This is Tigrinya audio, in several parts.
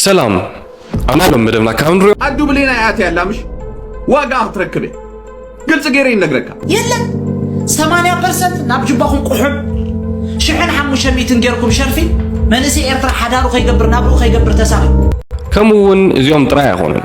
ሰላም ኣናሎም መደብና ካብ ንሪኦ ኣዱ ብሌና ያትያ ላምሽ ዋጋ ክትረክብ ግልፂ ገይረ ይነግረካ የለን 80 ፐርሰንት ናብ ጅባኹም ቁሑብ ሽሕን ሓሙሽተ ሚትን ጌርኩም ሸርፊ መንእሰይ ኤርትራ ሓዳሩ ከይገብር ናብርኡ ከይገብር ተሳኺ ከምኡ እውን እዚኦም ጥራይ ኣይኮኑን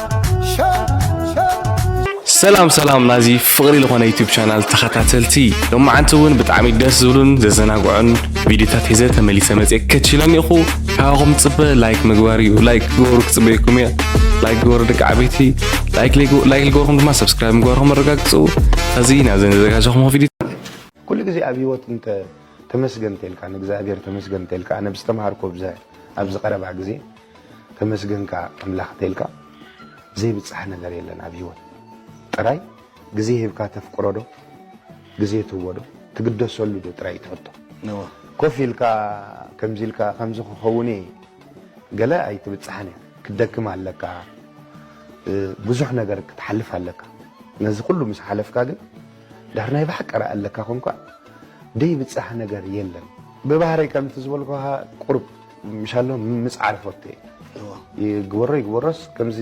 ሰላም ሰላም ናዚ ፍቕሪ ዝኾነ ዩቲብ ቻናል ተኸታተልቲ ሎማዓንቲ እውን ብጣዕሚ ደስ ዝብሉን ዘዘናግዑን ቪዲዮታት ሒዘ ተመሊሰ መፅአ ከችለን ኢኹ ካባኹም ፅበ ላይክ ምግባር እዩ ላይክ ግበሩ ክፅበየኩም እየ ላይክ ግበሩ ደቂ ዓበይቲ ላይክ ልገበርኩም ድማ ሰብስክራይብ ምግባርኩም ኣረጋግፁ እዚ ናብ ዘዘጋጀኹም ቪዲዮ ኩሉ ግዜ ኣብ ሂወት እንተ ተመስገን ተልካ ንእግዚኣብሔር ተመስገን ተልካ ኣነ ብዝተምሃርኮ ብዘ ኣብዚ ቀረባ ግዜ ተመስገን ከኣ ኣምላክ እንተኢልካ ዘይብጻሕ ነገር የለን ኣብ ሂወት ጥራይ ግዜ ሂብካ ተፍቅሮ ዶ ግዜ ትህቦ ዶ ትግደሰሉ ዶ ጥራይ ኢዩ እቲ ሕቶ እወ ኮፍ ኢልካ ከምዚ ኢልካ ከምዚ ክከውን እየ ገለ ኣይትብጻሕን እያ ክትደክም ኣለካ ብዙሕ ነገር ክትሓልፍ ኣለካ ነዚ ኩሉ ምስ ሓለፍካ ግን ድሕር ናይ ብሓቂ ረኣ ኣለካ ኮንካ ደይብጻሕ ነገር የለን ብባህረይ ከምቲ ዝበልኩካ ቁሩብ ምሻሎ ምጽዓር ፎቴ ይግበሮ ይግበሮስ ከምዚ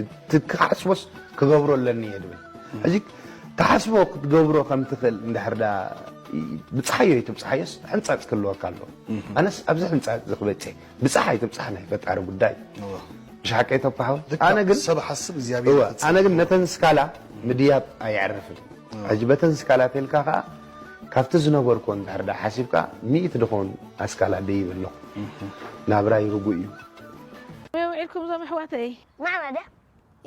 ክሓስቦስ ክገብሮ ኣለኒ እየ ድብል ሕዚ ትሓስቦ ክትገብሮ ከም ትኽእል እንድሕር ዳ ብፅሓዮ ይትብፅሓዮስ ሕንፃፅ ክህልወካ ኣሎ ኣነስ ኣብዚ ሕንፃፅ እዚ ክበፅሕ ብፅሓ ይትብፅሓ ናይ ፈጣሪ ጉዳይ ብሻሓቀ ይተኳሓወ ኣነ ግን ሰብ ሓስብ እግዚኣብሔር ኣነ ግን ነተን ስካላ ምድያብ ኣየዕርፍን ሕጂ በተን ስካላ ተልካ ከኣ ካብቲ ዝነበርኩ እንድሕር ደኣ ሓሲብካ ሚእቲ ድኾን ኣስካላ ደይብ ኣለኹ ናብራይ ርጉእ እዩ። ከመይ ውዒልኩም እዞም ኣሕዋተይ? ናዕና ድያ?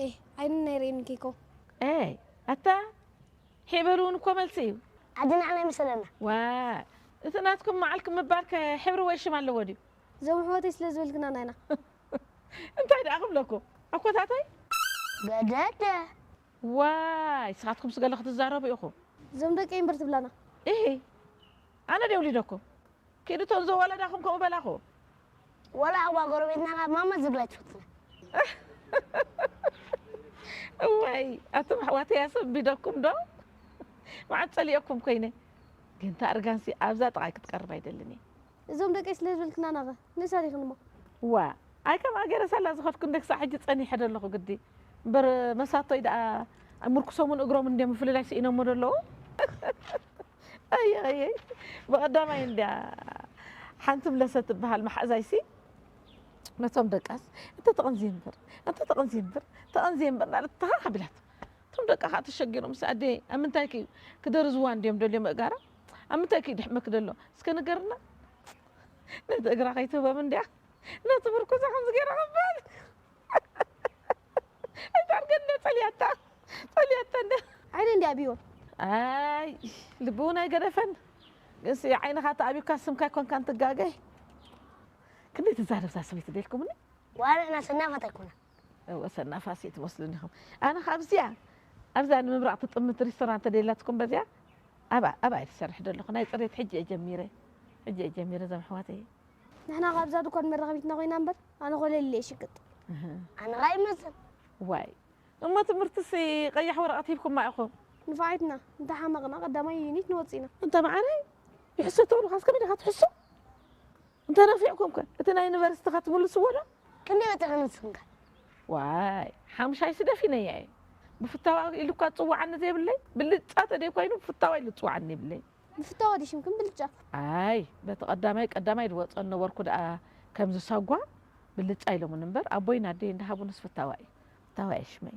ኤህ ዓይኒ ናይ ሬኒ ኬኮ። ኤይ ኣታ ሒዕ በሉ እውን እኮ መልሲ እዩ። ዓዲ ናዕና ይምሰለና። ዋይ እቲ ናትኩም ማዕልኩም ምባል ከ ሕብሪ ወይ ሽም ኣለዎ ድዩ? እዞም ኣሕዋተይ ስለ ዝበልክና ናይና። እንታይ ደኣ ክብለኩም ኣኮታተይ? ገደደ ዋይ ስኻትኩምስ ገለ ክትዛረቡ ኢኹም። ዞም ደቂ እምበር ትብላና። ኢሂ ኣነ ድየ ውሊደኩም ኪዱ እተን ዘወለዳኹም ከምኡ በላኹ። ወላ ኣባ ጎረቤትና ከኣ ማማ ዝብል ኣይትፈቱን እያ። እዋይ ኣቱም ኣሕዋተይ ኣሰንቢደኩም ዶ መዓት ጸሊኤኩም ኮይነ ግን እታ እርጋንሲ ኣብዛ ጥቃይ ክትቀርብ ኣይደልን እየ። እዞም ደቀይ ስለ ዝበልክና ናኸ ንእሰር ኢኽን እሞ። ዋእ ኣይ ከም ኣገረ ሳላ ዝኸድኩ እንደ ክሳዕ ሕጂ ጸኒሐ ዶ ኣለኹ ግዲ እምበር መሳቶይ ደኣ ምርኩሶምን እግሮምን እንድዮም ምፍልላይ ስኢኖሞ ዶ ኣለዉ ኣይይይይ ብቐዳማይ እንድያ ሓንቲ ምለሰ ትበሃል መሓዛይሲ ነቶም ደቃስ እንተ ተቐንዝየ እምበር እንተ ተቐንዝየ እምበር ተቐንዝየ እምበር እናለት ተሃ ኣቢላቶ እቶም ደቃ ከኣ ተሸጊሮምሲ ኣደየይ ኣብ ምንታይኪ እዩ ክደርዝዋ እንድዮም ደልዮም እእጋራ ኣብ ምንታይ ክዩ ድሕመኪ ደሎ እስከ ንገርና ነቲ እግራ ከይትህቦም እንድያ ነቲ ምርኩሳ ከምዚ ገይራ ክበል ኣይታርገ እንደ ጸልያታ ጸልያታ እንደ ዓይነ እንዲ ኣብዮ ኣይ ልቢ እውን ኣይገደፈን ግንሲ ዓይንኻ ተኣቢካ ስምካ ኣይኮንካን ትጋገይ ክንደይ ትዛረብ እዛ ሰበይቲ ደልኩምኒ ዋላ ንሕና ሰናፋት ኣይኮናን እወ ሰናፋስ እዩ ትመስሉኒ ኢኹም ኣነ ኸኣ ኣብዚኣ ኣብዛ ንምብራቕ ትጥምት ሪስቶራንት ተደልያትኩም በዚኣ ኣብኣ ኣብኣ እየ ዝሰርሕ ዘለኹ ናይ ጽሬት ሕጂ እየ ጀሚረ ሕጂ እየ ጀሚረ እዞም ኣሕዋተይ ንሕና ካብ እዛ ድኳን መራኸቢትና ኮይና እምበር ኣነ ኮለል እየ ሽቅጥ ኣነ ኸኣ ይመዝን ዋይ እሞ ትምህርትሲ ቀያሕ ወረቐት ሂብኩማ ኢኹም ንፋዒትና እንተ ሓመቕና ቀዳማይ ዩኒት ንወጽእ ኢና እንተ መዓረይ ይሕሰ ትብሉኻስ ከመይ ዲኻ ትሕሱ እንተነፊዕኩም ከ እቲ ናይ ዩኒቨርሲቲኻ ትምልስዎ ዶ? ክንደይ ወጺኹም ንስኹም ከ? ዋይ ሓምሻይ ስደፊነያ እየ ብፍታዋ ኢሉኳ ዝጽውዓኒ ዘይብለይ ብልጫ ተደይ ኮይኑ ብፍታዋ ኢሉ ዝጽውዓኒ የብለይን። ብፍታዋ ድዩ ሽምክን ብልጫ? ኣይ በቲ ቀዳማይ ቀዳማይ ዝወጾ ዝነበርኩ ደኣ ከምዚ ሳጓ ብልጫ ኢሎሙኒ እምበር ኣቦይን ኣደይን ዝሃቡንስ ፍታዋ እዩ ፍታዋ እየ ሽመይ።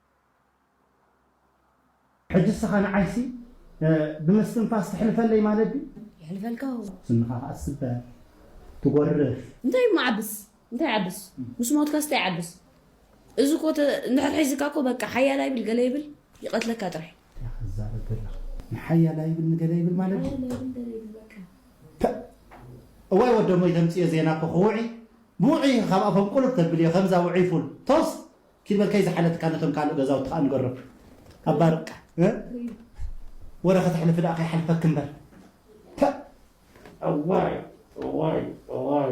ሕጂ እስኻ ንዓይሲ ብምስትንፋስ ተሕልፈለይ ማለት ድዩ? የሕልፈልካ ውን። ስንኻ ከኣ ትስበር ትጎርፍ። እንታይ እሞ ዓብስ እንታይ ዓብስ ምስ ሞትካስ እንታይ ዓብስ እዚ እኮ ተ እንድሕር ሒዝካ እኮ በቃ ሓያል ኣይብል ገለ ይብል ይቀትለካ ጥራይ። እንታይ ኢኻ ትዛረብ ዘለኻ ንሓያል ኣይብል ንገለ ይብል ማለት ድዩ? ሓያል ኣይብል ገለ ይብል በቃ። ፐእ እዋይ ወደሞይ ተምጽዮ ዜና እኮ ክውዒ ብውዑይ ኢኺ ካብ ኣፎም ቁልፍ ተብልዮ ከምዛ ውዑይ ፉል ቶስ። ኪበር ከይ ዝሓለትካ ነቶም ካልእ ገዛውቲ ከኣ ንገሮም እባ በቃ ወረ ከተሕልፊ ደኣ ከይ ሓልፈኪ እምበር ፐእ እዋይ እዋይ እዋይ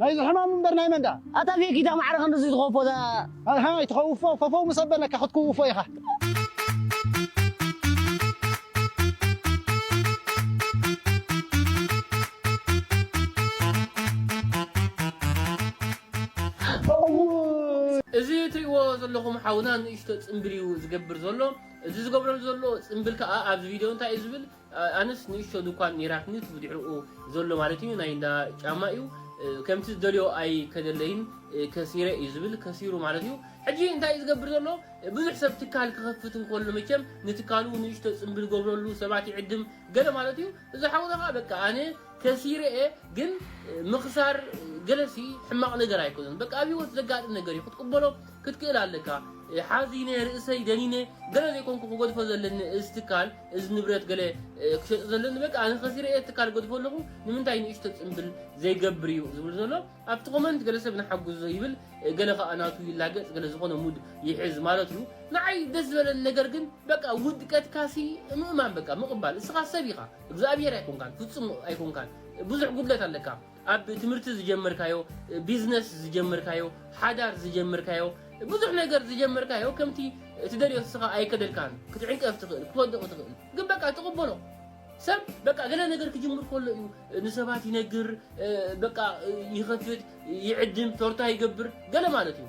ናይዚ ሕማም እምበር ናይ መን ድኣ። ኣታ ፌክ ኢታ ማዕረ ክንድዚ ትኸውፎ እዛ። ኣሕ ኣይትኸውፎ ፈፈው ምስ ኣበለካ ክትክውፎ ኢኻ። እዚ ትሪእዎ ዘለኹም ሓውና ንእሽቶ ጽምብል እዩ ዝገብር ዘሎ እዚ ዝገብረሉ ዘሎ ጽምብል ከኣ ኣብዚ ቪድዮ እንታይ እዩ ዝብል ኣነስ ንእሽቶ ዱኳን ኔራትኒ እቲ ብድሕርኡ ዘሎ ማለት እዩ ናይ እንዳ ጫማ እዩ ከምቲ ዝደልዮ ኣይ ከደለይን ከሲረ እዩ ዝብል ከሲሩ ማለት እዩ ሕጂ እንታይ እዩ ዝገብር ዘሎ ብዙሕ ሰብ ትካል ክኸፍት እንከሎ መቸም ንትካሉ ንእሽቶ ጽምብል ገብረሉ ሰባት ይዕድም ገለ ማለት እዩ እዚ ሓውና ከዓ በቃ ኣነ ከሲረ እየ ግን ምኽሳር ገለሲ ሕማቕ ነገር ኣይኮነን በቃ ኣብ ህይወት ዘጋጥም ነገር እዩ ክትቅበሎ ክትክእል ኣለካ ሓዚነ ርእሰይ ደኒነ ገለ ዘይኮንኩ ክገድፎ ዘለኒ እዚ ትካል እዚ ንብረት ገለ ክሸጦ ዘለኒ በቃ ኣነ ከሲረ እየ ትካል ገድፎ ኣለኹ ንምንታይ ንእሽቶ ፅምብል ዘይገብር እዩ ዝብል ዘሎ ኣብቲ ኮመንት ገለ ሰብ ንሓግዞ ይብል ገለ ከዓ ናቱ ይላገፅ ገለ ዝኾነ ሙድ ይሕዝ ማለት እዩ ንዓይ ደስ ዝበለኒ ነገር ግን በቃ ውድቀትካሲ ምእማን በቃ ምቕባል እስኻ ሰብ ኢኻ እግዚኣብሔር ኣይኮንካን ፍፁም ኣይኮንካን ብዙሕ ጉድለት ኣለካ ኣብ ትምህርቲ ዝጀመርካዮ፣ ቢዝነስ ዝጀመርካዮ፣ ሓዳር ዝጀመርካዮ፣ ብዙሕ ነገር ዝጀመርካዮ ከምቲ እትደልዮ ንስኻ ኣይከደልካን። ክትዕንቀፍ ትኽእል፣ ክትወድቕ ትኽእል፣ ግን በቃ ትቕበሎ። ሰብ በቃ ገለ ነገር ክጅምር ከሎ እዩ ንሰባት ይነግር፣ በቃ ይኸፍት፣ ይዕድም፣ ቶርታ ይገብር ገለ ማለት እዩ።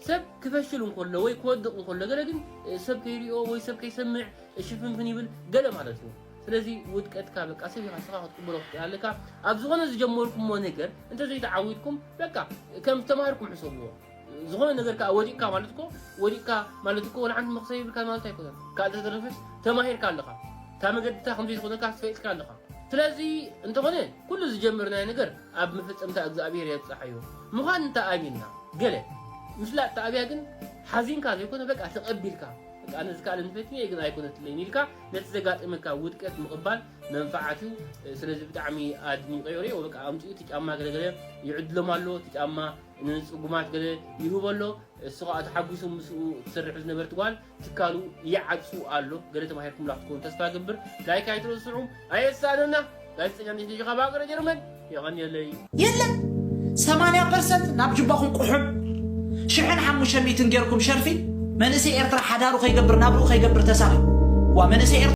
ሰብ ክፈሽል እንከሎ ወይ ክወድቕ እንከሎ ገለ ግን ሰብ ከይሪኦ ወይ ሰብ ከይሰምዕ ሽፍንፍን ይብል ገለ ማለት እዩ። ስለዚ ውድቀትካ በቃ ሰብ ኢኻ ንስኻ ክትቅበሎ ክትክእል ኣለካ። ኣብ ዝኾነ ዝጀመርኩሞ ነገር እንተዘይተዓዊትኩም በቃ ከም ዝተማሃርኩም ሕሰብዎ። ዝኾነ ነገር ከኣ ወዲቕካ ማለት እኮ ወዲቕካ ማለት እኮ ወላ ሓንቲ መኽሰብ ይብልካ ማለት ኣይኮነን። ካብ ዝተረፈስ ተማሂርካ ኣለኻ። እታ መገድታ ከምዘይዝኾነካ ፈሊጥካ ኣለኻ። ስለዚ እንተኾነ ኩሉ ዝጀመርናዮ ነገር ኣብ ምፍጽምታ እግዝኣብሄር የብጽሓዮ ምዃን እንተ ኣሚንና ገለ ምፍላጥ ተኣብያ ግን ሓዚንካ ዘይኮነ በቃ ተቐቢልካ በቃ ኣነ ዝከኣለ ንፈትኒ እየ ግን ኣይኮነትለይን ኢልካ ነቲ ዘጋጠመካ ውድቀት ምቕባል መንፋዓት እዩ ስለዚ ብጣዕሚ ኣድኒቀዮ ሪኦ በቃ ኣምጽኡ እቲ ጫማ ገለገለ ይዕድሎም ኣሎ እቲ ጫማ ንጽጉማት ገለ ይህቦ ኣሎ እሱ ከዓ ተሓጒሱ ምስኡ ትሰርሕ ዝነበርት ጓል ትካሉ ይዓጹ ኣሎ ገለ ተማሂርኩምላ ክትኮኑ ተስፋ እገብር ላይክ ኣይትረስዑ ኣየሳኣነና ጋዜጠኛ ሚኪ ዲኻ ባገረ ጀርመን የቐንየለይ የለን ሰማንያ ፐርሰንት ናብ ጅባኹም ቁሑም ሽሕን ሓሙሽተ ሚእትን ጌርኩም ሸርፊ መንእሰይ ኤርትራ ሓዳሩ ከይገብር ናብርኡ ከይገብር ተሳኺ ዋ መንእሰይ ኤርትራ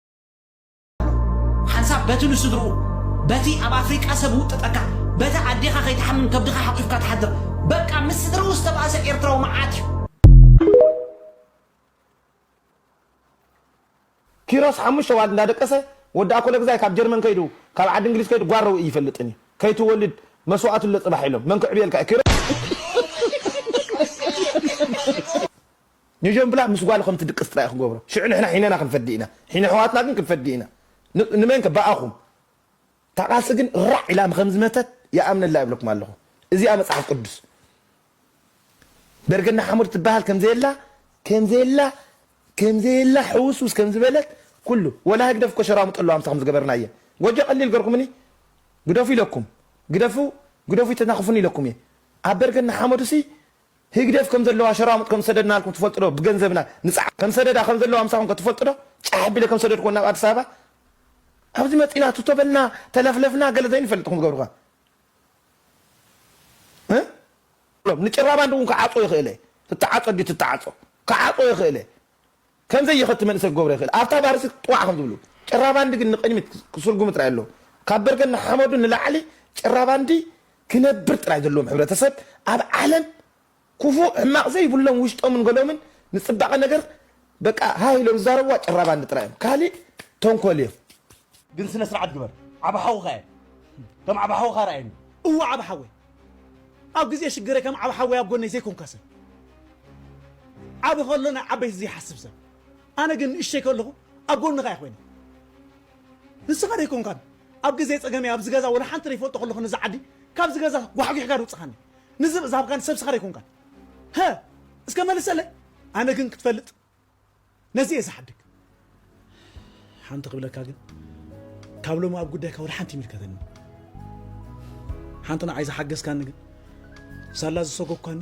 ሓንሳብ በቲ ንስድርኡ በቲ ኣብ ኣፍሪቃ ሰብ ውጥጠካ በቲ ኣዴኻ ከይትሓምም ከብድኻ ሓቂፍካ ትሓድር በቃ ምስ ስድርኡ ዝተባእሰ ኤርትራዊ መዓት እዩ። ኪሮስ ሓሙሽተ ዋልድ እንዳደቀሰ ወዲ ኣኮለግዛይ ካብ ጀርመን ከይዱ ካብ ዓዲ እንግሊዝ ከይዱ ጓል ረዊኢ ይፈልጥን እዩ ከይትወልድ መስዋእትለ ጽባሕ ኢሎም መን ክዕብየልካ እዩ ኪሮስ። ኘጀምብላ ምስ ጓሉ ከም ትድቅስ ጥራይ እዩ ክገብሮ ሽዑ ንሕና ሒነና ክንፈዲ ኢና ሒነ ኣሕዋትና ግን ክንፈዲ ኢና ንመን ከ ብኣኹም እታ ቃልሲ ግን ራዕ ኢላ ከም ዝመተት ይኣምነላ ይብለኩም ኣለኹ እዚኣ መጽሓፍ ቅዱስ ደርገና ሓሙድ ትበሃል ከም ዘየላ ከም ዘየላ ከም ዘየላ ሕውስውስ ከም ዝበለት ኩሉ ወላ ህግደፍ እኮ ሸራሙጥ ኣለዋ ምስታ ከም ዝገበርናየ ጎጆ ቀሊል ገርኩምኒ ግደፉ ኢለኩም ግደፉ ግደፉ ይተናኽፉኒ ኢለኩም እየ ኣብ በርገና ሓመዱሲ ህግደፍ ከም ዘለዋ ሸራሙጥ ከም ዝሰደድናልኩም ትፈልጡ ዶ ብገንዘብና ንጽዓር ከም ሰደዳ ከም ዘለዋ ምሳኹም ከ ትፈልጡ ዶ ጫሕ ኣቢለ ከም ዝሰደድክወን ናብ ኣዲስ ኣበባ ኣብዚ መጺና ቱቶ በልና ተለፍለፍና ገለ ዘይንፈልጥ ኢኹም ትገብሩ ከ ንጭራባንድ እውን ክዓጾ ይኽእል እየ ትተዓጾ ድዩ ትተዓጾ ክዓጾ ይኽእል እየ ከም ዘይኸቲ መንእሰይ ክገብሮ ይኽእል። ኣብታ ባርሲ ጥዋዕ ከም ዝብሉ። ጭራባንዲ ግን ንቕድሚት ክስርጉሙ ጥራይ ኣለዎ። ካብ በርገን ንሓመዱ ንላዕሊ ጭራባንዲ ክነብር ጥራይ ዘለዎም ሕብረተሰብ ኣብ ዓለም ኩፉእ ሕማቕ ዘይብሎም ውሽጦምን ገሎምን ንጽባቐ ነገር በቃ ሃህ ኢሎም ዝዛረብዋ ጭራባንዲ ጥራይ እዮም። ካሊእ ተንኮል እዮም። ግን ስነ ስርዓት ግበር ዓቢ ሓውኻ እየ ከም ዓቢ ሓውኻ ርኣየኒ እወ ዓቢ ሓወይ ኣብ ግዜ ሽግረይ ከም ዓቢ ሓወይ ኣብ ጎነይ ዘይኮንካ ሰብ ዓቢ ከሎ ናይ ዓበይቲ ዘይሓስብ ሰብ ኣነ ግን ንእሽተይ ከለኹ ኣብ ጎንኻ እየ ኮይነ ንስኻ ደይኮንካን ኣብ ግዜ ጸገመይ ኣብዚ ገዛ ወላ ሓንቲ ደይፈልጦ ከለኹ ነዚ ዓዲ ካብዚ ገዛ ጓሕጒሕካ ድውጽኻኒ ንዝብእ ዝሃብካኒ ሰብ ስኻ ደይኮንካን ሀ እስከ መልሰለይ ኣነ ግን ክትፈልጥ ነዚ እየ ዝሓድግ። ሓንቲ ክብለካ ግን ካብ ሎሚ ኣብ ጉዳይካ ወላ ሓንቲ ይምልከተኒ ሓንቲ ንዓይ ዝሓገዝካኒ ግን ሳላ ዝሰጎኳኒ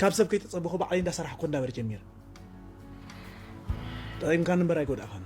ካብ ሰብ ከይተጸበኹ ባዕለይ እንዳሰራሕኩ እንዳበረ ጀሚረ ጠቒምካኒ እምበር ኣይጎዳእኻኒ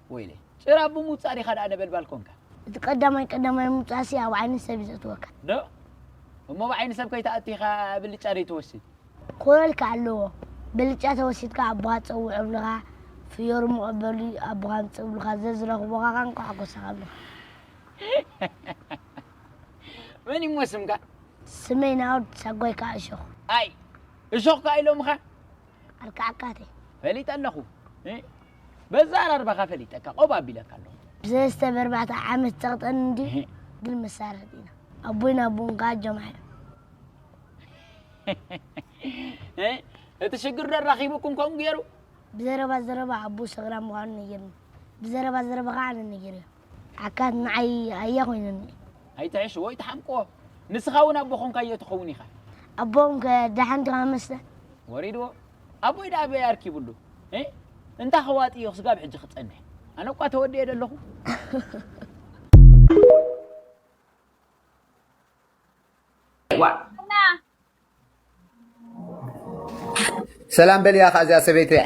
ወይለይ ጭራ ኣቦ ምውጻእ ዲኻ ደኣ ነበልባል ኮንካ። እቲ ቀዳማይ ቀዳማይ ምውጻእሲ ኣብ ዓይኒ ሰብ እዩ ዘእትወካ። ዶ? እሞ ኣብ ዓይኒ ሰብ ከይትኣቱ ኢኻ ብልጫ ደይትወስድ? ክኾነልካ ኣለዎ። ብልጫ ተወሲድካ ኣቦኻ ጸውዕ እብልኻ፣ ፍዮሪ መቐበሊ ኣቦኻ ኣምጽእ እብልኻ፣ ዘዝረኽቡኻ ከኣ እንቋዕ ጎሳኻ እብልኻ። መን እዩ እሞ ስምካ? ስመይ ናኦድ፣ ሳጓይ ከኣ እሾኽ። ኣይ! እሾኽ ከኣ ኢሎምኻ? ኣልካዕካተይ። ፈሊጠ ኣለኹ። በዛራርባኻ ፈሊጠካ ቆብ ኣቢለካ ኣለኹ። ብሰለስተ በርባዕተ ዓመት ጸቕጠን እንዲ ግን መሳርሕት ኢና ኣቦይ ናቦን ከኣ ጀማሕ እዮም። እቲ ሽግር ዶ ኣራኺቡኩም ከምኡ ገይሩ? ብዘረባ ዘረባ ኣቦ ሰግራ ምዃኑ ነጊርኒ ብዘረባ ዘረባ ከኣ ኣነ ነጊረዮ ዓካት ንዓይ ኣያ ኮይነኒ። ኣይትሕሽዎ ኣይትሓምቅዎ ንስኻ እውን ኣቦ ኮንካዮ ትኸውን ኢኻ። ኣቦኦም ከ ደሓን ዲኻ መስተ? ወሪድዎ ኣቦይ ደኣ ኣበይ ኣርኪብሉ እህ እንታ ከዋጥዮ ክስጋብ ሕጂ ክጸንሕ ኣነ እኳ ተወዲኤ ደለኹ። ሰላም በልያ ከ እዚኣ ሰበይቲ እያ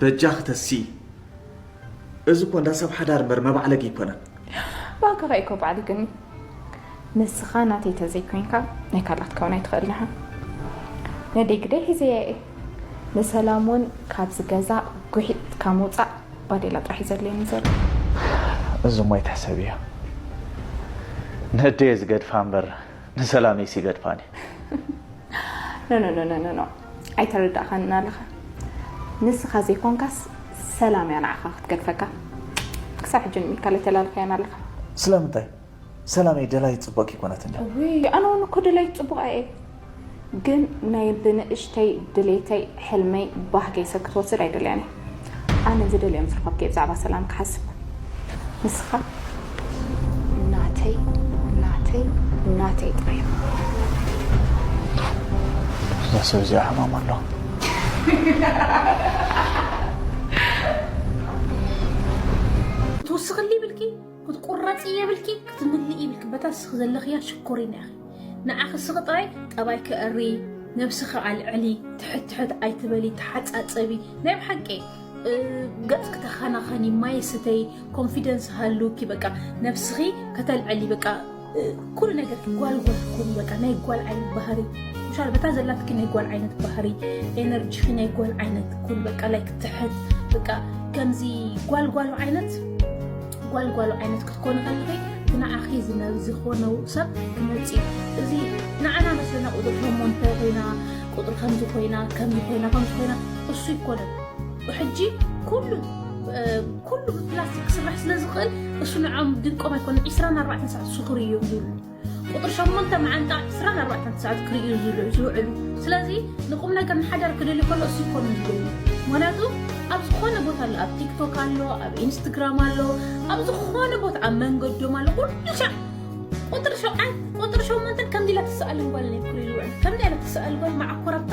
በጃኺ ተስኢ እዚ እኮ እንዳ ሰብ ሓዳር እምበር መባዕለጊ ኣይኮነን። ባእካ ከ እኮ ባዕሊ ግን ንስካ ናተይ ተዘይ ኮንካ ናይ ካልኣ ክትከውን ኣይትክእልን ኢካ ነደይ ግደይ ሒዘያ እየ ንሰላም ውን ካብዚ ገዛ ጉሒጥካ ምውጻእ ባዴላ ጥራሕ እዩ ዘድልየኒ ዘሎ። እዚ እሞ ኣይትሕሰብዮ ነደየ ዝገድፋ እምበር ንሰላመይ ሲ ገድፋኒ። ኖኖኖኖኖ ኣይተረዳእካንን ኣለኻ ንስኻ ዘይኮንካስ ሰላም እያ ንዓኻ ክትገድፈካ ክሳብ ሕጂ ንምካል ኣይተላልካያን ኣለኻ። ስለምንታይ ሰላመይ ደላዪት ጽቡቕ ከይኮነት እንድያ። ውይ ኣነ እውን እኮ ደላዪት ጽቡቕ እየ ግን ናይ ብንእሽተይ ድሌተይ ሕልመይ ባህገይ ሰብ ክትወስድ ኣይደልያን እየ። ኣነ ዝደልዮም ዝረኸብከ ብዛዕባ ሰላም ክሓስብ ንስኻ ናተይ ናተይ ናተይ ጥራይ እዛ ሰብ እዚኣ ሕማም ኣሎ ትውስኽሊ ብልኪ ክትቁረፂ የብልኪ ክትምልእ ይብልኪ በታ ንስኺ ዘለኽያ ሽኮሪና ኢኺ ንዓኺ ስኺ ጥራይ ጠባይኪ እርዪ ነብስኺ ኣልዕሊ ትሕት ትሕት ኣይትበሊ ተሓፃፀቢ ናይ ብሓቂ ገፅኪ ተኸናኸኒ ማይ ስተይ ኮንፊደንስ ሃልውኪ በቃ ነብስኺ ከተልዕሊ በቃ ኩሉ ነገርኪ ጓል ጓል ኩኒ በቃ ናይ ጓል ዓይነት ባህሪ ምሻል በታ ዘላትኪ ናይ ጓል ዓይነት ባህሪ ኤነርጂኺ ናይ ጓል ዓይነት ኩን በቃ ላይ ክትሕት በቃ ከምዚ ጓል ጓሉ ዓይነት ጓል ጓሉ ዓይነት ክትኮኑ ከለኺ ንዓኺ ዝኾነ ሰብ ክመፅ እዚ ንዓና መስለና ቁጥሪ ሸሞንተ ኮይና ቁጥሪ ከምዚ ኮይና ከምዚ ኮይና ከምዚ ኮይና እሱ ይኮነን ሕጂ ኩሉ ኩሉ ብፕላስቲክ ክስራሕ ስለ ዝኽእል እሱ ንዖም ድንቆም ኣይኮነን ዕስራን ኣርባዕተን ሰዓት እሱ ክርእዩ እዮም ዝብሉ ቁጥሪ ሸሞንተ መዓንጣ ዕስራን ኣርባዕተን ሰዓት ክርእዩ ዝብሉ ዝውዕሉ ስለዚ ንቁም ነገር ንሓዳር ክደልዩ ከሎ እሱ ይኮኑ ዝብሉ ምክንያቱ ኣብ ዝኾነ ቦታ ኣሎ ኣብ ቲክቶክ ኣሎ ኣብ ኢንስትግራም ኣሎ ኣብ ዝኾነ ቦታ ኣብ መንገዶም ኣሎ ኩሉ ሻዕ ቁጥሪ ሸውዓን ቁጥሪ ሸሞንተን ከምዚ ኢላ ትስኣል ጓል ናይ ኩሪ ዝውዕል ከምዚ ኢላ ትስኣል ጓል መዓኮራታ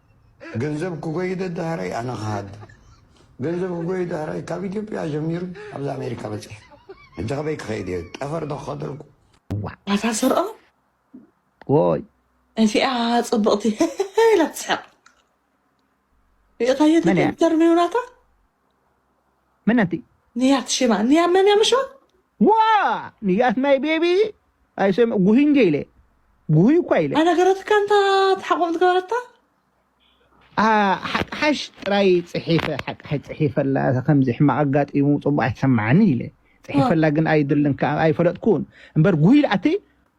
ገንዘብ ክጎይ ደድሃረይ ኣነ ክሃድም ገንዘብ ክጎይ ደሃረይ ካብ ኢትዮጵያ ጀሚሩ ኣብዚ ኣሜሪካ በፂሐ ሕጂ ከበይ ክከይድ እየ ጠፈር ዶ ክከድ ኣልኩ ናታ ስርኦ ወይ እዚኣ ፅብቕቲ ኢላ ትስሕቕ ሪእኻዮ መን እያ? ተርሚው ናታ መነቲ ንያት ሽማ ንያ መን እያ ምሽዋ? ዋእ ንያት ማይ ቤቢ ኣይሰም ጉሂ እንዴ ኢለ ጉሂ እኳ ኢለ ኣይነገረትካን እንታ ተሓቁም ዝገበረታ? ሓቅሓሽ ጥራይ ጽሒፈ ሓቅሓሽ ጽሒፈላ እዛ ከምዚ ሕማቕ ኣጋጢሙ ጽቡቕ ኣይተሰማዓንን ኢለ ጽሒፈላ ግን ኣይድልን ከኣ ኣይፈለጥኩን እምበር ጉሂ ኢላትኒ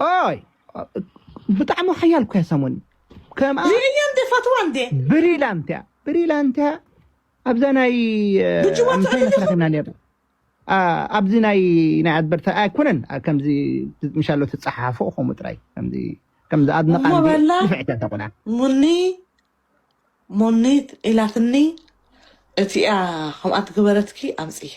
ኦይ ብጣዕሚ ሓያል እኮ እያ ሳሞኒ ከምኣ ዚርኛ እንደ ፈትዋ እንደ ብሪላንት እያ ብሪላንት እያ ኣብዛ ናይ ብጅዋ ምሳይ ትዕልልኹ? መስራሕና ነርና ኣ- ኣብዚ ናይ ናይ ኣድበርታ ኣይኮነን ኣ- ከምዚ ምሻሎ ትፀሓሓፎ ከምኡ ጥራይ ከምዚ ከምዚ ኣድንቓ እሞ እንዲ በላ ንፍዕቲ እያ ተቑና ሙኒ ሙኒት ኢላትኒ እቲኣ ከምኣ ትግበረትኪ ኣምፅያ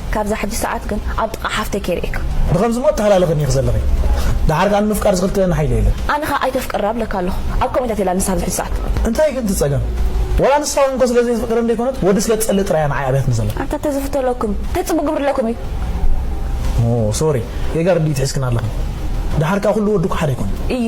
ካብዛ ሕጂ ሰዓት ግን ኣብ ጥቃ ሓፍተይ ከይርእየካ። ብኸምዚ እሞ ኣተሃላልኽኒ ኢኺ ዘለኺ ደሓር ከኣ ንምፍቃር ዝኽልክለኒ ሓይሊ የለን። ኣነ ከኣ ኣይተፍቅራ እብለካ ኣለኹ ኣብ ከምኡ እንታትይ እላ ንሳ ኣብዚ ሕጂ ሰዓት። እንታይ ግን ትጸገም ወላ ንሳ ውን እኮ ስለ ዘይትፍቅረኒ ዘይኮነት ወዲ ስለ ትጸልእ ጥራይ እያ ንዓይ ኣብያትኒ ዘላ። ኣንታ ተዝፍተለኩም ታይ ጽቡቅ ክግብርለኩም እዩ። ኦው ሶሪ ጌጋ ርድኢት ሒዝክና ኣለኺ ደሓር ከኣ ኩሉ ወዲ እኮ ሓደ ኣይኮነን። እዩ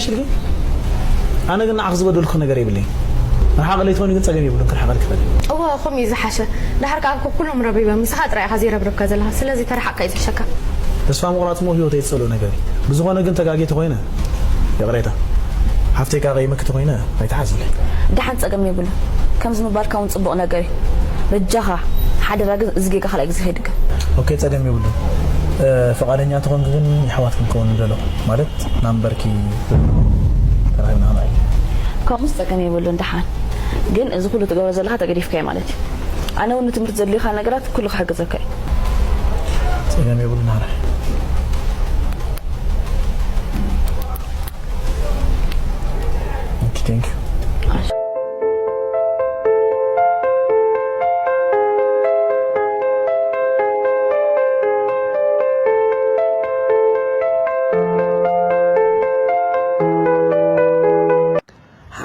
እሺ ግን ኣነ ግን ንዓኺ ዝበደልኩኺ ነገር የብለይን ርሓቒ ለይትኾኒ ግን ጸገም የብሉን ክርሕቐልኪ ይኽእል እየ። እወ ከምኡ እዩ ዝሓሸ ድሓር ከኣ እኮ ኩሎም ረቢበም ንስኻ ጥራይ ኢኻ ዘይረብረብካ ዘለኻ ስለዚ ተርሓቕካ እዩ ዝሕሸካ። ተስፋ ምቑራጽ እሞ ሂወተይ ዝጸልኦ ነገር እዩ ብዝኾነ ግን ተጋጊ ተኾይነ ይቕሬታ ሓፍተይ ቀቂይምኪ ተኾይነ ኣይትሓዝኒ። ዳሓን ጸገም የብሉን ከምዚ ምባልካ ውን ጽቡቅ ነገር እዩ በጃኻ ሓደራ ግን እዚ ጌጋ ካልኣይ ግዜ ከይድገም። ኦኬ ጸገም የብሉን ፍቃደኛ ተኾንኪ ግን የሕዋት ክንከውን ንደሎ ማለት ናምበርኪ ርድኦ ተራኪብና ክንርኢ። ከምኡስ ጸገም የብሉን ደሓን ግን እዚ ኩሉ ትገብሮ ዘለካ ተገዲፍካዮ ማለት እዩ ኣነ ውን ንትምህርቲ ዘድልዩካ ነገራት ኩሉ ክሕግዘካ እዩ። ጸገም የብሉን ናረይ። Thank you.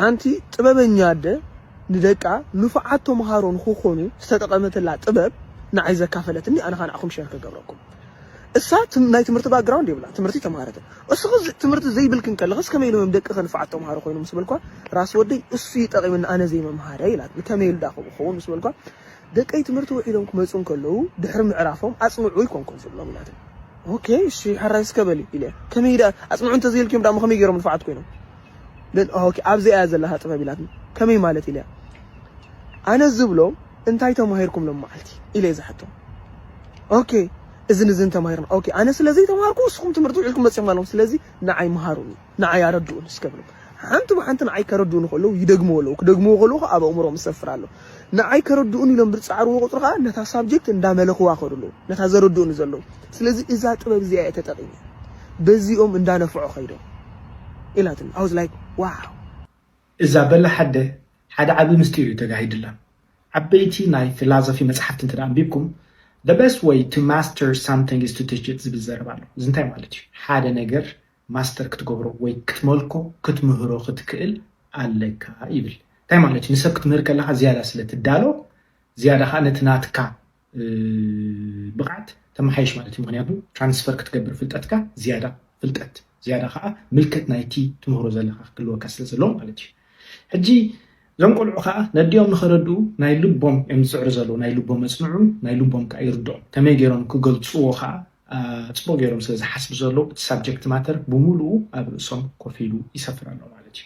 ሓንቲ ጥበበኛ ኣደ ንደቃ ንፉዓት ተምሃሮ ንኽኾኑ ዝተጠቐመትላ ጥበብ ንዓይ ዘካፈለትኒ ኣነ ከኣ ንዓኹም ሸር ክገብረኩም። እሳ ናይ ትምህርቲ ባክግራውንድ የብላን ትምህርቲ ኣይተምሃረትን እስኺ ትምህርቲ ዘይብልኪ እንከለኽስ ከመይ ኢሎም እዮም ደቅኺ ንፉዓት ተምሃሮ ኮይኖም ምስ በልክዋ ራስ ወደይ እሱ እዩ ጠቒምኒ ኣነ ዘይምምሃረይ ኢላትኒ ከመይ ኢሉ ዳኸ ክኸውን ምስ በልክዋ ደቀይ ትምህርቲ ውዒሎም ክመፁ እንከለዉ ድሕሪ ምዕራፎም ኣፅንዑ ይኮን ኮን ዝብሎም ኢላትኒ ኦኬ እሺ ሓራይ እስከ በሊ ኢለ ከመይ ዳ ኣፅንዑ እንተዘይልክዮም ዳሞ ከመይ ገይሮም ንፉዓት ኮይኖም ኦኬ ኣብዚኣ እያ ዘለኻ ጥበብ ኢላትኒ ከመይ ማለት ኢለያ ኣነ ዝብሎ እንታይ ተማሂርኩም ሎምዓልቲ ኢለ ዝሓቶም ኦኬ እዝን እዝን ተማሂርና ኦኬ ኣነ ስለ ዘይተማሃርኩ ንስኹም ትምህርቲ ውዒልኩም መጺኹም ኣለኹም ስለዚ ንዓይ ምሃሩኒ ንዓይ ኣረድኡኒ እስከ ብሎም ሓንቲ ብሓንቲ ንዓይ ከረድኡኒ ከለዉ ይደግምዎ ኣለዉ ክደግምዎ ከለዉ ከዓ ኣብ ኣእምሮኦም ይሰፍር ኣሎ ንዓይ ከረድኡኒ ኢሎም ብዝጻዕርዎ ቁጽሪ ከዓ ነታ ሳብጀክት እንዳመለኽዋ ከዱ ኣለዉ ነታ ዘረድኡኒ ዘለዉ ስለዚ እዛ ጥበብ እዚኣ እየ ተጠቒመ በዚኦም እንዳነፍዖ ከይዶም ኢላትኒ ኣውዝ ላይክ ዋው እዛ በላሕ ኣደ ሓደ ዓቢ ምስጢር እዩ ተጋሂድላ። ዓበይቲ ናይ ፊላዞፊ መጽሓፍቲ እንተ ኣንቢብኩም The best way to master something is to teach it ዝብል ዘረባ ኣሎ። እዚ እንታይ ማለት እዩ? ሓደ ነገር ማስተር ክትገብሮ ወይ ክትመልኮ፣ ክትምህሮ ክትክእል ኣለካ ይብል። እንታይ ማለት እዩ? ንሰብ ክትምህር ከለኻ ዝያዳ ስለ ትዳሎ፣ ዝያዳ ከኣ ነቲ ናትካ ብቕዓት ተመሓይሽ ማለት እዩ ምኽንያቱ ትራንስፈር ክትገብር ፍልጠትካ ዝያዳ ፍልጠት ዝያዳ ከዓ ምልከት ናይቲ ትምህሮ ዘለካ ክህልወካ ስለ ዘለዎ ማለት እዩ ሕጂ እዞም ቆልዑ ከዓ ነዲኦም ንኸረድኡ ናይ ልቦም እዮም ዝፅዕሩ ዘለዉ ናይ ልቦም መፅንዑ ናይ ልቦም ከዓ ይርድኦም ከመይ ገይሮም ክገልፅዎ ከዓ ፅቡቅ ገይሮም ስለ ዝሓስቡ ዘለዉ እቲ ሳብጀክት ማተር ብምሉኡ ኣብ ርእሶም ኮፍ ኢሉ ይሰፍር ኣሎ ማለት እዩ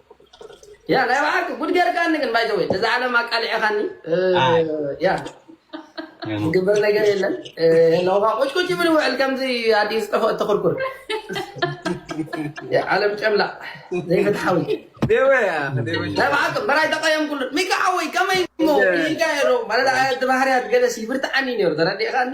ያ ናይ በሓቂ ጉድ ጌርካኒ ግን ባይ ዘ ወይ ነዛ ዓለም ኣቃሊዕኻኒ ኣይ ያ ኣይኑ ዝግበር ነገር የለን ለውኻ ቁጭቁጭ ይብል ውዕል ከምዚ ኣዲ ዝጠፈእ ተኽርኩር ያ ዓለም ጨምላ ዘይፍትሓዊ ዴወ ያ ዴወ ናይ በሓቂ በራይ ተቐየምኩሉ ሚካ ሓወይ ከመይ እሞ ክኢልካ ነይሩ ማለት ኣቲ ባህርያት ገለሲ ይብርትዓኒ ነይሩ ተረዲእኻኒ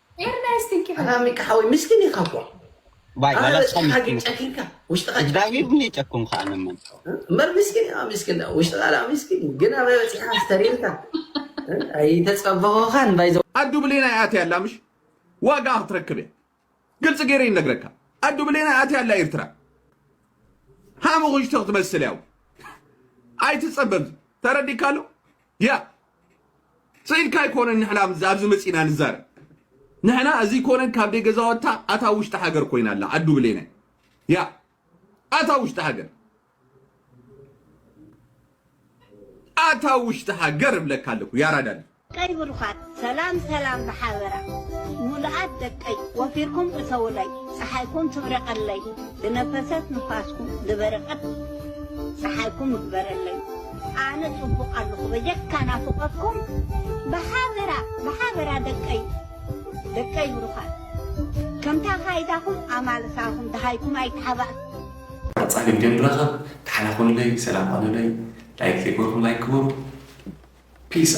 ኣዱ ብሌናይ ኣትያ ኣላ ምሽ ዋጋኣ ክትረክብ እያ ግልፂ ገይረ ይነግረካ ኣዱ ብሌናይ ኣትያ ኣላ ኤርትራ ሓሙኽሽቲ ክትመስል እያ ኣይትፀበብ ተረዲካ ኣሎ ያ ስኢልካ ኣይኮነን ንሕና ኣብዚ መጺና ንዛረብ ንሕና እዚ ኮነን ካብ ደይ ገዛወታ ኣታ ውሽጢ ሃገር ኮይና ኣላ ኣዱ ብሌነ ያ ኣታ ውሽጢ ሃገር ኣታ ውሽጢ ሃገር እብለካ ኣለኩ ያራዳል ቀይ ብሩኻት ሰላም ሰላም ብሓበራ ሙሉኣት ደቀይ ወፊርኩም እተውለይ ፀሓይኩም ትብረቀለይ ዝነፈሰት ንፋስኩም ዝበረቀት ፀሓይኩም እግበረለይ ኣነ ጽቡቅ ኣለኹ በጀካ ናፍቆትኩም ብሓበራ ብሓበራ ደቀይ ደቀይ ብሩኻት ከምታ ካይዳኹም ኣማልሳኹም ደሃይኩም ኣይተሓባእኩ። ቀጻሊ ግዜ ንራኸብ ተሓላኹለይ ሰላም ኾኑለይ ላይክ ዘይገበርኩም ላይክ ግበሩ ፒስ።